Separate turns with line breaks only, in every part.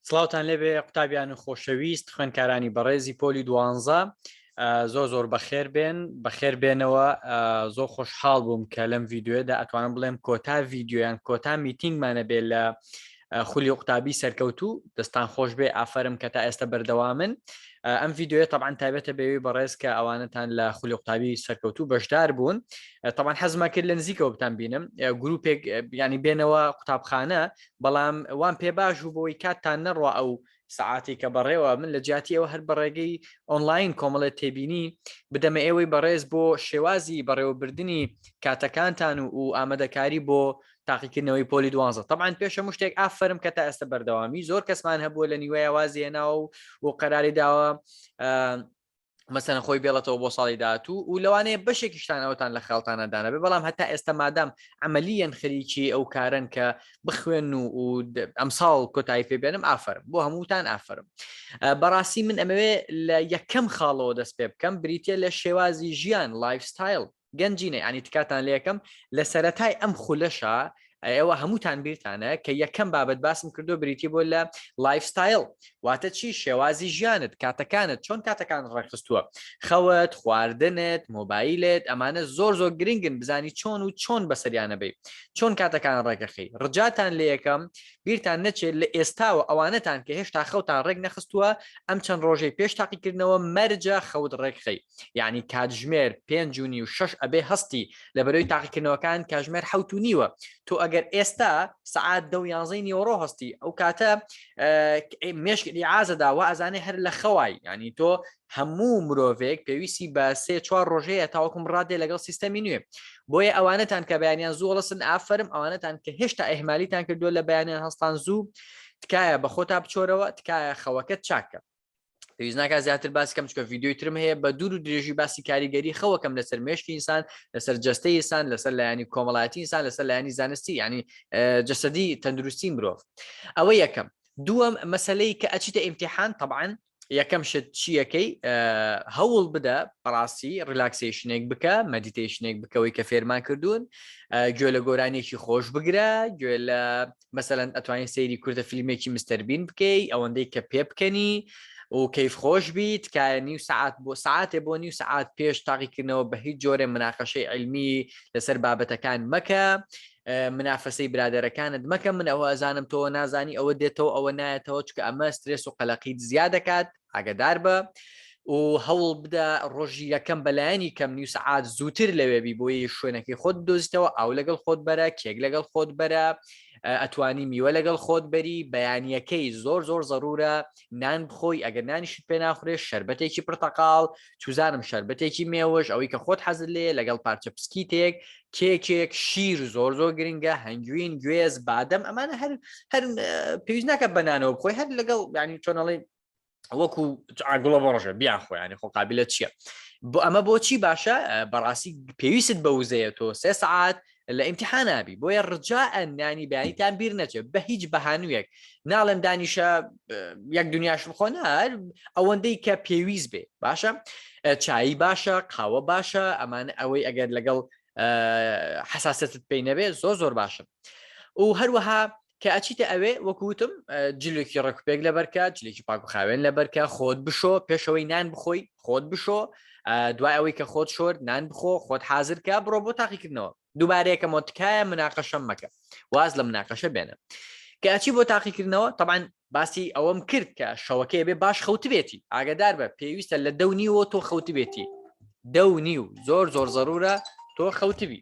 سلااوان لێبێ قوتابیان و خۆشەویست خوێنکارانی بەڕێزی پۆلی دوانزە زۆر زۆر بەخێر بێن بەخێر بێنەوە زۆر خۆشحاڵ بووم کە لەم یددیوێدا ئەتوانم بڵێم کۆتا یددیویان کۆتا میتینگمانە بێ لە خولی قوتابی سەرکەوتوو دەستان خۆش بێ ئافرم کە تا ئێستا بەردەوامن ئەم ڤیددیوە تەبان تابێتە بێوی بەڕێز کە ئەوانتان لە خولی قوتابی سەرکەوتوو بەشدار بوون تەبان حەزما کرد لە نزیکەوە بتان بینم گروپێک بیانی بێنەوە قوتابخانە بەڵام وان پێ باش و بۆی کاتتان نەڕوا ئەو سعاتی کە بەڕێوە من لە جیاتی ئەوە هەر بەڕێگەی ئۆنلاین کۆمەڵێ تێبینی بدەمە ئێوەی بەڕێز بۆ شێوازی بەڕێوەبردننی کاتەکانتان و و ئامادەکاری بۆ تاقیکردنەوەی پۆلی دوانزە تەعاان پێشە مشتێک ئافرم کە تا ئێستا بەردەوامی زۆر کەسمان هەبووە لە نیوەیە وازیێناوە و و قەراری داوە مەسەن خۆی بێڵێتەوە بۆ ساڵی داهاتوو و لەوانەیە بەشێکیشتان ئەوتان لە خاڵتانەدانە بێ بەڵام هەتا ئێستا مادام ئەمەلیەن خەریکی ئەو کارن کە بخوێن و و ئەم ساڵ کۆتایی پێبێنم ئافرم بۆ هەمووتان ئافرم بەڕاستی من ئەمەوێ لە یەکەم خاڵەوە دەست پێ بکەم بریتە لە شێوازی ژیان لایفستایل گەنجینە یعنی تکاتان لەکەم لە سەرەتای ئەم خولەشە ئێوە هەمووتان بیرتانە کە یەکەم بابەت باسم کردو بریتی بۆ لە لایفستایل واتە چی شێوازی ژیانت کاتەکانت چۆن کاتەکان ڕێکخستووە خەوت خواردنت مۆبایلت ئەمانە زۆر زۆر گرنگن بزانی چۆن و چۆن بەسەریانە بی چۆن کاتەکان ڕێکەخی ڕجاتان لە یەکەم بیرتان نەچێت لە ئێستاوە ئەوانەتان کە هێشتا خەوتان ڕێک نەخستووە ئەم چەند ڕۆژەی پێش تاقیکردنەوە مەرجە خەوت ڕێکخەی یعنی کاتژمێر پێنج و نی و شش ئەبێ هەستی لە بەرەوەی تاقیکردنەوەکان کاژمێر حوت و نیوە تۆ ئەگەر ئێستا سعات دە و یانزەی نیوەڕۆ هەستی ئەو کاتە مێشکلی ئازەدا و ئازانێ هەر لە خەوای ینی تۆ هەموو مرۆڤێک پێویستی بە سێ چوار ڕۆژەیە تاوەکم ڕادێ لەگەڵ سیستەمی نوێ بۆیە ئەوانەتان کە بەیانیان زوو هەڵسن ئافرم ئەوانەتان کە هێشتا ئەهمالیتان کردووە لە بەیانیان هەستان زوو تکایە بە خۆتا بچۆرەوە تکایە خەوەکەت چاکە پێویست ناکە زیاتر باس کەم چکە یددیوی ترم هەیە بە دوور و درێژی باسی کاریگەری خەوەکەم لەسەر مێشکی ئینسان لەسەر جستە ئسان لەسەر لایانی کۆمەڵایەتی ئسان لەسەر لایانی زانستی ینی جەسەدی تەندروستی مرۆڤ ئەوە یەکەم دووەم مەسلەی کە ئەچیتە ئیمتحان طبعاان یەکەم شت چیەکەی هەوڵ بدە بەڕاستی ریلاکسیشنێک بکە مەدیتیشنێک بکەوەی کە فێرمان کردوون گوێ لە گۆرانێکی خۆش بگرە گوێ لە مەسەلەن ئەتوانین سەیری کوردە فیلمێکی مستەربین بکەی ئەوەندەی کە پێ بکەنی و کەیف خۆش بی تکایە نیو سعات بۆ ساعتێ بۆ نیو سعات پێش تاقیکردنەوە بە هیچ جۆرە مناقەشەی علمی لەسەر بابەتەکان مەکە منافەسەی برادەرەکانت مەکە من ئەوە ئەزانم تۆ نازانی ئەوە دێتەوە ئەوە نایەتەوە چکە ئەمە سترێس و قەلەقیت زیاد دەکات ئاگەداربە و هەوڵبدە ڕۆژی یەکەم بەلایەنی کەم نیو سەعات زووتر لەوێبی بۆی شوێنەکەی خۆت دۆزیتەوە ئاو لەگەڵ خۆت بەرە کێک لەگەڵ خۆت بەرە ئەتوانی میوە لەگەڵ خۆت بەری بەیانیەکەی زۆر زۆر زەرورە نان بخۆی ئەگەر نانیشت پێ ناخورێت شربەتێکی پرتەقاڵ چوزانم شەربەتێکی مێوش ئەوەی کە خۆت حەزت لێ لەگەڵ پارچە پسکیتێک کێکێک شیر زۆر زۆر گرنگە هەنگوین گوێز بادەم ئەمانە هەر هەر پێویست ناکە بەنانەوە بخۆی هەر لەگەڵ ینی چۆنەڵی وەکو ئاگوڵە بەڕژە بیان خۆیانی خۆ قابلە چییە بۆ ئەمە بۆچی باشە بەڕاستی پێویست بە وزەیە تۆ سێ سعات لە ئیمتحان ئابی بۆیە ڕجاء نانی بەیانیتان بیر نەچێت بە هیچ بەهانوویەک ناڵێم دانیشە یەک دنیاش بخۆ نار ئەوەندەی کە پێویست بێ باشە چایی باشە قاوە باشە ئەمان ئەوەی ئەگەر لەگەڵ حساستت پێی نەبێ زۆر زۆر باشە و هەروەها کە ئەچیتە ئەوێ وەکو وتم جلێکی ڕێکوپێک لەبەرکە جلێکی پاک و خاوێن لەبەرکە خۆت بشۆ پێشەوەی نان بخۆی خۆت بشۆ دوای ئەوەی کە خۆت شۆر نان بخۆ خۆت حازرکە بڕۆ بۆ تاقیکردنەوە دووبارەیەکەمە تکایە مناقەشەم مەکە واز لە مناقەشە بێنە کەچی بۆ تاقیکردنەوە تەبان باسی ئەوەم کرد کە شەوەکەی بێ باش خەوتبێتی ئاگدار بە پێویستە لە دەونیەوە تۆ خەوتبێتی دەونی و زۆر زۆر زەرورە تۆ خەوتبی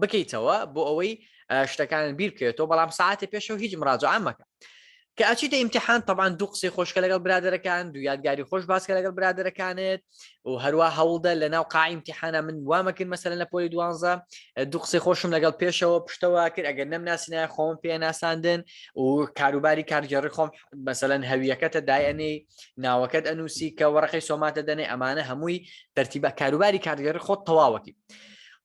بکەیتەوە بۆ ئەوەی شتەکان بیر بکەێتەوە بەڵام ساعتی پێشەوە هیچ مراجعان مەکە کە ئەچیتە ئیمتحان تەبان دوو قسەی خۆشکە لەگەڵ برادەرەکان دو یادگاری خۆش باسکە لەگەڵ برادەرەکانت و هەروە هەوڵدە لە ناو قائیمتیحانە من وامەکرد مەسەر لە پۆلی دوانزە دوو قسەی خۆشم لەگەڵ پێشەوە پشتەوە کرد ئەگەر نەم ناسینای خۆم پێ ناساندن و کاروباری کارگەڕی خۆم مەسەەن هەویەکەتە دایەنەی ناوەکەت ئەنووسی کە وەڕقی سۆماتە دەنێ ئەمانە هەمووی تەرتیبە کاروباری کارگەڕی خۆت تەواوەتی.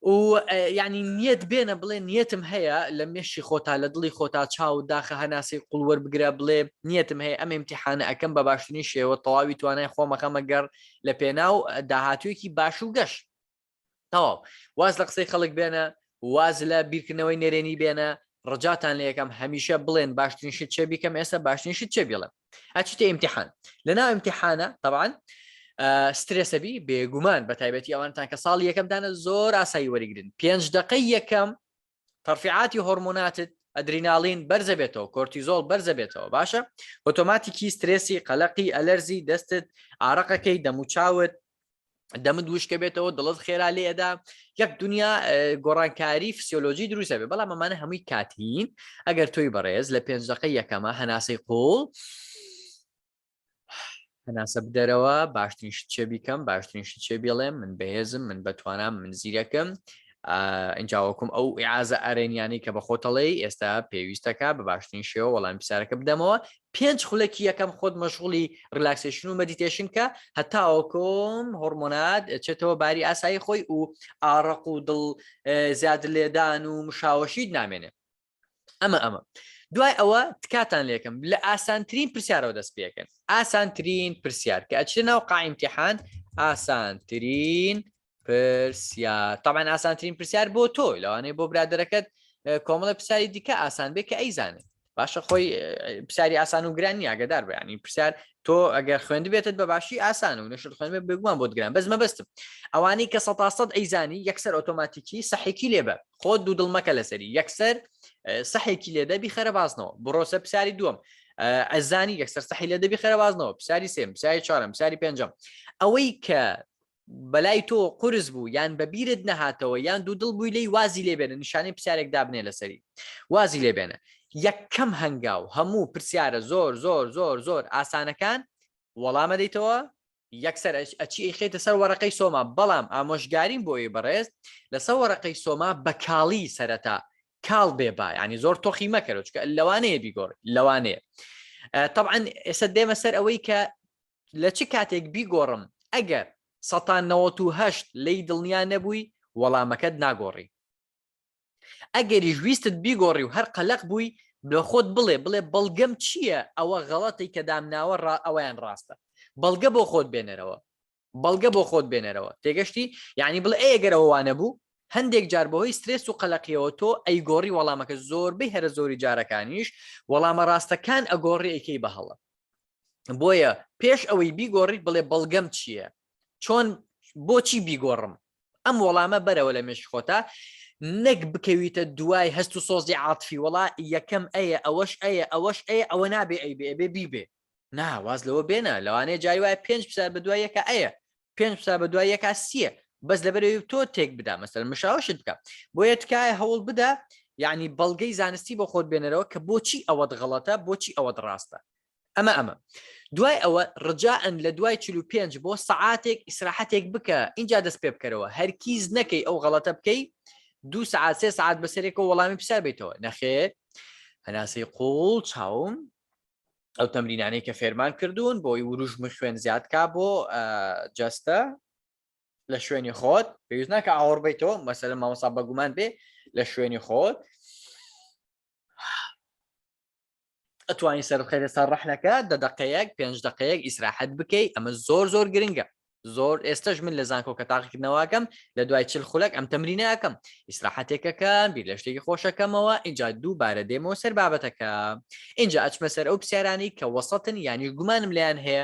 و یعنی نیەت بێنە بڵێ نیەتم هەیە لە مێشی خۆتا لە دڵی خۆتا چاو داخە هەناسەی قوڵوەەر بگرە بڵێ نیەتم هەیە ئەم امتحانە ئەەکەم بە باشترین شێوە تەواوی توانای خۆمەخەمە گەڕ لە پێناو داهاتوێکی باش و گەش تەواو واز لە قسەی خەڵک بێنە واز لە بیرکردنەوەی نەرێنی بێنە ڕجاتان لە یەکەم هەمیشە بڵێن باشترین شت چێ بیکەم ئێستا باشترین شت چێ بڵێم ئەچیتە ئیمتحان لەنا ئیمتحانە طبعاان سترێسەبی بێگومان بە تایبەتی ئەوانتان کە ساڵی یەکەمدانە زۆر ئاسایی وەریگرن پێنج دقەی یەکەم تەرفعاتی هۆرمۆناتت ئەدریناڵین بەرزە بێتەوە کۆرتیزۆڵ بەرزە بێتەوە باشە ئۆتۆماتیکی سترێسی قەلقی ئەلەرزی دەستت ئارەقەکەی دەموچاوت دەمت وشکە بێتەوە دڵت خێرا لێ ئەدا یەک دنیا گۆڕانکاری فسیۆلۆژی دروستە بێ بەڵام ئەمانە هەمووی کاتین ئەگەر تۆی بەڕێز لە پێنج دقی یەکەمە هەناسەی قوڵ هەناسە بدەرەوە باشترین شت چێ بیکەم باشترین شت چێ بێڵێم من بەهێزم من بەتوانام من زیرەکەم ئەجاوەکم ئەو عازە ئەرێنیانی کە بە خۆتەڵێ ئێستا پێویستەکە بە باشترین شێوە وەڵام پرسیارەکە بدەمەوە پێنج خولەکی یەکەم خۆت مەشغوڵی ڕیلاکسێشن و مەدیتێشن کە هەتاوەکۆ هۆڕمۆنات چێتەوە باری ئاسایی خۆی و ئاڕەق و دڵ زیاد لێدان و مشاوەشیت نامێنێ ئەمە ئەمە دوای ئەوە تکاتان لێکم لە ئاسانترین پرسیارەوە دەست پێکەن ئاسانترین پرسیار کە ئەچێ ناو قائیمتیحان ئاسانترین پرسیار تامان ئاسانترین پرسیار بۆ تۆ لەوانەیە بۆ برادەرەکەت کۆمەڵە پرسیاری دیکە ئاسان بێ کە ئەیزانێت باشە خۆی پرسیاری ئاسان و گرانی ئاگدار بەیانی پرسیار تۆ ئەگەر خوێند بێتت بە باشی ئاسان و نشت خوێن بگومان بۆ گران بەس مەبستم ئەوانەی کە سە سەد ئەیزانی یەکسەر ئۆتۆماتیکی سەحێکی لێ بە خۆ دوو دڵمەکە لەسەری یەکسەر سەحێکی لێ دەبی خەرە بازنەوە بڕۆسە پرسیاری دووەم ئەزانی یەکسەر سەحی لە دەبی خەرە بازنەوە پرسیاری سێم پرسیاری چوارم پرسیاری پێنجم ئەوەی کە بەلای تۆ قورس بوو یان بە بیرت نەهاتەوە یان دوودڵ بووی لێی وازی لێ بێنە نیشانەی پرسیارێک دابنێ لەسەری وازی لێ بێنە یەکەم هەنگاو هەموو پرسیارە زۆر زۆر زۆر زۆر ئاسانەکان وەڵام ئەدەیتەوە یەکسەر ئەچی ئەیخیتە سەر وەرەقەی سۆما بەڵام ئامۆژگاریم بۆ ئەوی بەڕێز لەسەر وەرەقەی سۆما بە کاڵی سەرەتا کاڵ بێ با ینی زۆر تۆخی مەکەرەوە چکە لەوانەیە بیگۆڕی لەوانەیە طبعا ئێستا دێمە سەر ئەوەی کە لە چ کاتێک بیگۆڕم ئەگەر سەتا نەوەت و هەشت لێی دڵنیا نەبووی وەڵامەکەت ناگۆڕی ئەگەریش ویستت بیگۆڕی و هەر قەلەق بووی لە خۆت بڵێ بڵێ بەڵگەم چییە ئەوە غەڵەتی کە دامناوە ڕا ئەویان ڕاستە بەڵگە بۆ خۆت بێنەرەوە بەڵگە بۆ خۆت بێنەرەوە تێگەشتی یعنی بڵێ ئەگەرەوە وانە بوو هەندێک جار بەهۆی سترێس و قەلەقیەوە تۆ ئەی گۆڕی وەڵامەکە زۆربەی هەرە زۆری جارەکانیش وەڵامە ڕاستەکان ئەگۆڕی ئەیکەی بە هەڵە بۆیە پێش ئەوەی بیگۆڕیت بڵێ بەڵگەم چییە چۆن بۆچی بیگۆڕم ئەم وەڵامە بەرەوە لە مێش خۆتا نەک بکەویتە دوای هەست و سۆزی عاتفی وڵا یەکەم ئەیە ئەوەش ئەیە ئەوەش ئەیە ئەوە نابێ ئەی بێ بێ بیبێ ناواز لەوە بێنە لەوانەیە جای وایە پێنج پسار بە دوای یەکە ئەیە پێنج قسە بە دوای یەکا سیە بەس لەبەرەوەی تۆ تێک بدا مەسەر مشاوشت بکە بۆیە تکایە هەوڵ بدە یعنی بەڵگەی زانستی بۆ خۆت بێنەرەوە کە بۆچی ئەوەت غەڵەتە بۆچی ئەوەت ڕاستە ئەمە ئەمە دوای ئەوە ڕجاعن لە دوای 45 بۆ سعاتێک ئیسراحەتێک بکە اینجا دەست پێ بکەرەوە هەرکیز نەکەی ئەو غەڵەتە بکەی دوو سعات سێ سعات بەسەرێکەوە وەڵامی پرسیار بیتەوە نەخێر هەناسەی قوڵ چاوم ئەو تەمرینانەی کە فێرمان کردوون بۆی وروژم خوێن زیادکە بۆ جەستە لە شوێنی خۆت پێویست ناکە ئاوەڕ بیتەوە مەسەر مامەسا بەگومان بێ لە شوێنی خۆت ئەتوانی سەرخێرە سەر ڕەحلەکە دە دقەیەک پێنج دقەیەک ئیسراحەت بکەیت ئەمە زۆر زۆر گرنگە زۆر ئێستش من لە زانکۆ کە تاقیکردنەوەکەم لە دوای چل خولەک ئەم تەمرینەکەم ئیسراحەتێکەکەم بیر لە شتێکی خۆشەکەمەوە ئینجا دووبارە دێمەوە سەر بابەتەکە ئینجا ئەچمە سەر ئەو پرسیارانی کە وەسەتن یانیش گومانم لیان هەیە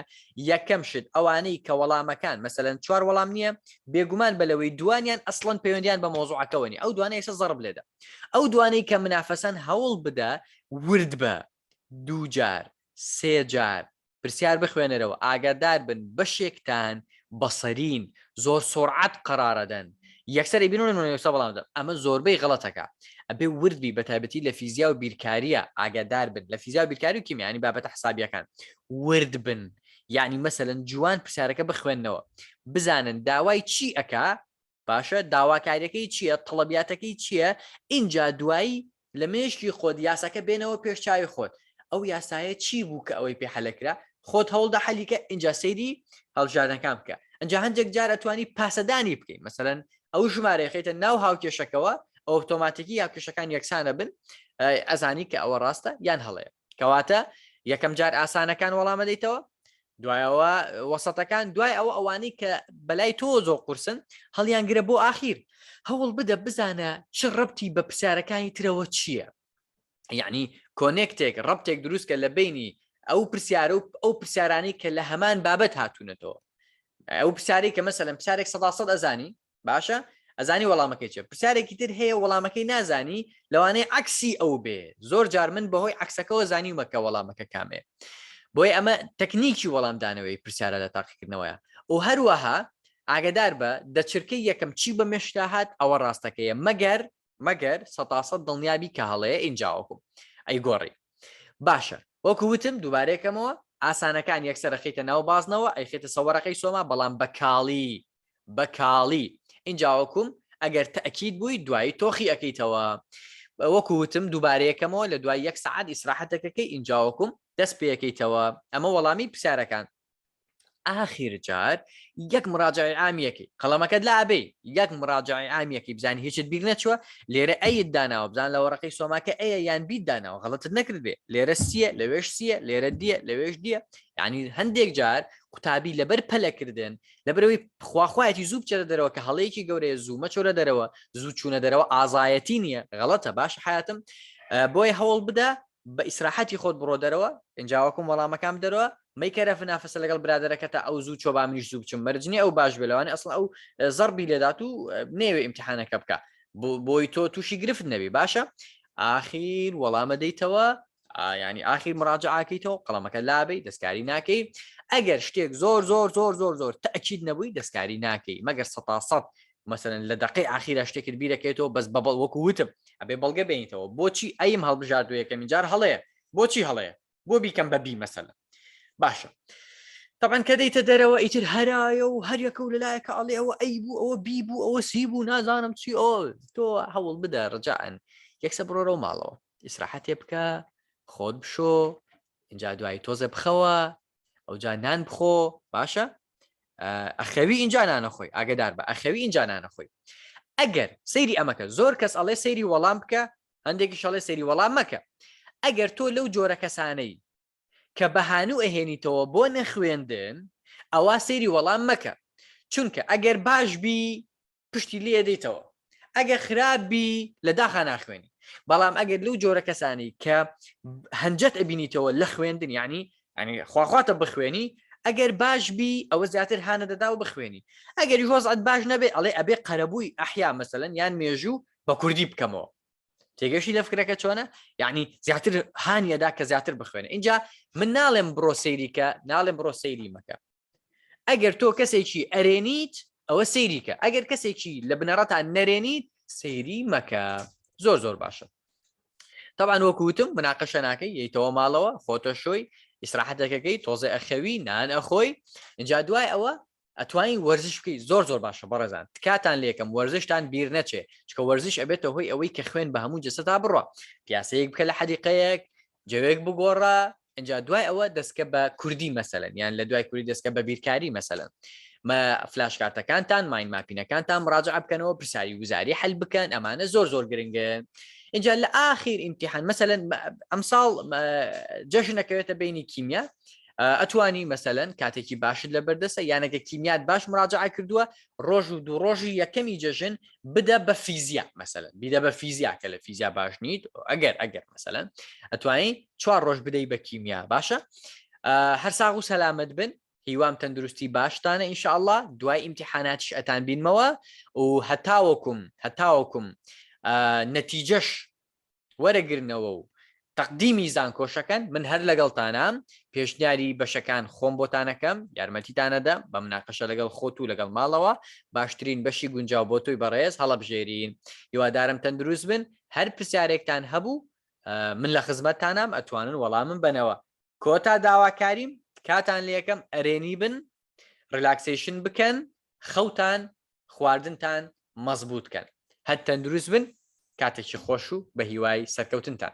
یەکەم شت ئەوانەی کە وەڵامەکان مەسەن چوار وەڵام نییە بێگومان بەلەوەی دوانیان ئەسڵەن پەیوەندیان بە مۆزوعەکەەوەنی ئەو دوانە ئێستا زەڕب لێدا ئەو دوانەی کە منافەسەن هەوڵ بدە ورد بە دووجار سێجار پرسیار بخوێنەرەوە ئاگادار بن بەشێکتان بەصرین زۆر سرعەت قەرارەدەن یەکسەر ئەیبینن و نۆیەسە وەڵام دەدەن ئەمە زۆربەی غەڵەتەکە ئەبێ ورد بی بە تایبەتی لە فیزیا و بیرکارییە ئاگادار بن لە فیزیا و بیرکاری و کیمیانی بابەتە حسابیەکان ورد بن یعنی مەسەلەن جوان پرسیارەکە بخوێنەوە بزانن داوای چی ئەکا باشە داواکاریەکەی چیە تەڵەبیاتەکەی چیە ئینجا دوایی لە مێشکی خۆت یاساکە بێنەوە پێش چاوی خۆت ئەو یاسایە چی بوو کە ئەوەی پێ حەلەکرا خۆت هەوڵدە حەلیکە ئینجا سەیری هەڵبژاردنەکان بکە ئەنجا هەندێک جار ئەتوانی پاسەدانی بکەین مەسەرەن ئەو ژمارەیە خیتە ناو هاوکێشەکەەوە ئۆتۆماتیکی هاوکێشەکان یەکسانە بن ئەزانی کە ئەوە ڕاستە یان هەڵەیە کەواتە یەکەم جار ئاسانەکان وەڵامە دەیتەوە دوایەوە وەسەتەکان دوای ئەوە ئەوانەی کە بەلای تۆ زۆ قورسن هەڵیان گرە بۆ ئاخیر هەوڵ بدە بزانە چ ڕبتی بە پرسیارەکانی ترەوە چییە یعنی کۆنێکتێک ڕبتێک دروستکە لە بینی ئەو پرسیارە و ئەو پرسیارانی کە لە هەمان بابەت هاتوونەتەوە ئەو پرسیاری کە مەسەلم پرسیارێک سەدا سەد ئەزانی باشە ئەزانی وەڵامەکەی چێ پرسیارێکی تر هەیە وەڵامەکەی نازانی لەوانەیە عکسی ئەو بێ زۆر جار من بەهۆی عکسەکەەوە زانیومەکە وەڵامەکە کامێ بۆی ئەمە تەکنیکی وەڵامدانەوەی پرسیارە لە تاقیکردنەوەیە و هەروەها ئاگدار بە دەچرکە یەکەم چی بە مێشکا هاات ئەوە ڕاستەکەیە مەگەر مەگەر سەتاسە دڵنیابی کە هەڵەیە ئینجاوەکو ئەی گۆڕی باشە وەکو وتم دووبارەکەمەوە ئاسانەکان یەکسەرەخیتە ناو بازنەوە ئەیخێتە سەوەرەکەی سۆما بەڵام بە کاڵی بە کاڵی ئینجا وەکوم ئەگەر تەئکید بووی دوایی تۆخی ئەەکەیتەوە وەکو وتم دووبارەیەکەمەوە لە دوای یەک سعات ئیسراحەتەکەکەی ئینجا وەکوم دەست پێەکەیتەوە ئەمە وەڵامی پرسیارەکان ئاخیر جار یەک مراجعی عامیەکەی قەڵەمەکەت لا ئەبێ یەک مراجعی عامیەکەی بزانانی هیچت بیر نەچووە لێرە ئەیت داناوە بزان لە وەڕقی سۆماکە ئەیە یان بیت داناوە غڵتت نەکرد بێ لێرە سیە لەوێش سیە لێرە دیە لەوێش دیە ینی هەندێک جار قوتابی لەبەر پەلەکردن لەبەرەوەی خواخوایەتی زوو بچێتە دەرەوە کە هەڵەیەکی گەورەیە زوو مەچۆرە دەرەوە زوو چوونە دەرەوە ئازایەتی نییە غەڵەتە باش حیاتم بۆیە هەوڵ بدە بە ئیسراحەتی خۆت بڕۆ دەرەوە ئەنجاوەکم وەڵامەکان بدەرەوە مەیکەرە فنافەسە لەگەڵ برادەرەکە تا ئەو زوو چۆ با منیش زوو بچم مەرجنی ئەو باش بلەوانێ ئەسڵ ئەو زەربی لێدات و نێوێ ئیمتحانەکە بکە بۆی تۆ تووشی گرفت نەبی باشە ئاخیر وەڵامە دەیتەوە ینی ئاخیر مراجعاکەیتەوە قەڵەمەکە لابی دەستکاری ناکەی ئەگەر شتێک زۆر زۆر زۆر زۆر زۆر تاکیید نەبووی دەستکاری ناکەی مەگەر سە سەد مەسەن لە دقی ئاخیرا شتێکت بیرەکەێتەوە بەس بەبڵ وەکو وتم ئەبێ بەڵگە بینیتەوە بۆچی ئەیم هەڵبژاردو یەکەمین جار هەڵەیە بۆچی هەڵەیە بۆ بیکەم بەبی مەسەلە باشە طبعاً کە دەیتە دەرەوە ئیتر هەرایە و هەریەکە و لەلایەکە ئەڵێ ئەوە ئەی بوو ئەوە بی بوو ئەوە سی بوو نازانم چی ئۆ تۆ هەوڵ بدە ڕجاعن یەکسە بڕۆرەوە ماڵەوە ئیسراحەتێ بکە خۆت بشۆ اینجا دوایی تۆزە بخەوە ئەوجا نان بخۆ باشە ئەخەوی اینجا نانەخۆی ئاگدار بە ئەخەوی اینجا نانەخۆی ئەگەر سەیری ئەمەکە زۆر کەس ئەڵێ سەیری وەڵام بکە هەندێکی شەڵێ سەیری وەڵام مەکە ئەگەر تۆ لەو جۆرە کەسانەی کە بەهانوو ئەهێنیتەوە بۆ نەخوێندن ئەوە سەیری وەڵام مەکە چونکە ئەگەر باش بی پشتی لێ دەیتەوە ئەگە خراپبی لە داخا ناخوێنی بەڵام ئەگەر لەو جۆرە کەسانی کە هەنجەت ئەبینیتەوە لە خوێندن ینی ئەنی خواخواتە بخوێنی ئەگەر باش بی ئەوە زیاتر هاانە دەدا و بخوێنی ئەگەر هۆزعات باش نەبێ ئەڵێ ئەبێ قەرەبووی ئەحیا مەسەن یان مێژوو بە کوردی بکەمەوە تێگەشی لە فکرەکە چۆنە یعنی زیاتر هاانیەدا کە زیاتر بخوێنە اینجا من ناڵێم بڕۆ سەیریکە ناڵێم بڕۆ سەیری مەکە ئەگەر تۆ کەسێکی ئەرێنیت ئەوە سەیریکە ئەگەر کەسێکی لە بنەڕەتا نەرێنیت سەیری مەکە زۆر زۆر باشە طبعا وەکوتم مناقەشە ناکەی یتەوە ماڵەوە خۆتە شۆی ئیسراحەتەکەەکەی تۆزێ ئەخەوی نان ئەخۆی اینجا دوای ئەوە ئەتوانی وەرزش بکەی زۆر زۆر باشە بەڕێزان تکاتان لێکم وەرزشتان بیر نەچێ چکە وەرزش ئەبێتە هۆی ئەوەی کە خوێن بە هەموو جسەتا بڕە پیاسەیەک بکە لە حەدیقەیەک جەوێک بگۆڕە ئەجا دوای ئەوە دەستکە بە کوردی مەسەلەن یان لە دوای کوردی دەستکە بە بیرکاری مەسەلەن مە فلاش کارتەکانتان ماین ماپینەکانتان مراجع بکەنەوە پرسیاری وزاری حل بکەن ئەمانە زۆر زۆر گرنگە اینجا لە ئاخیر ئیمتحان مەسەن ئەمساڵ جەژنەکەوێتە بینی کیمیا ئەتوانی مەسەن کاتێکی باشت لە بەردەسە یانەکە کیمیات باش مراجعە کردووە ڕۆژ و دوو ڕۆژی یەکەمی جەژن بدە بە فیزیا مەسەن بیدە بە فیزیا کە لە فیزیا باش نیت ئەگەر ئەگەر مەسەن ئەتوانی چوار ڕۆژ بدەی بە کیمیا باشە هەر ساغ و سەلامت بن هیوام تەندروستی باشتانە ئینشاءله دوای ئیمتحاناتش ئەتان بینمەوە و هەتاوەکم هەتاوەکم نەتیجەش وەرەگرنەوە و تەقدیمی زانکۆشەکەن من هەر لەگەڵتانام پێشنیاری بەشەکان خۆم بۆتانەکەم یارمەتیتانەدەم بە مناقەشە لەگەڵ خۆت و لەگەڵ ماڵەوە باشترین بەشی گونجاو بۆ تۆی بەڕێز هەڵەبژێرین هیوادارم تەندروست بن هەر پرسیارێکتان هەبوو من لە خزمەتتانام ئەتوانن وەڵامم بەنەوە کۆتا داواکاریم تکاتان لەکەم ئەرێنی بن ڕلاکسیشن بکەن خەوتان خواردنتان مەزبوت کەن هەر تەندروست بن کاتێکی خۆش و بەهیوای سەرکەوتنتان.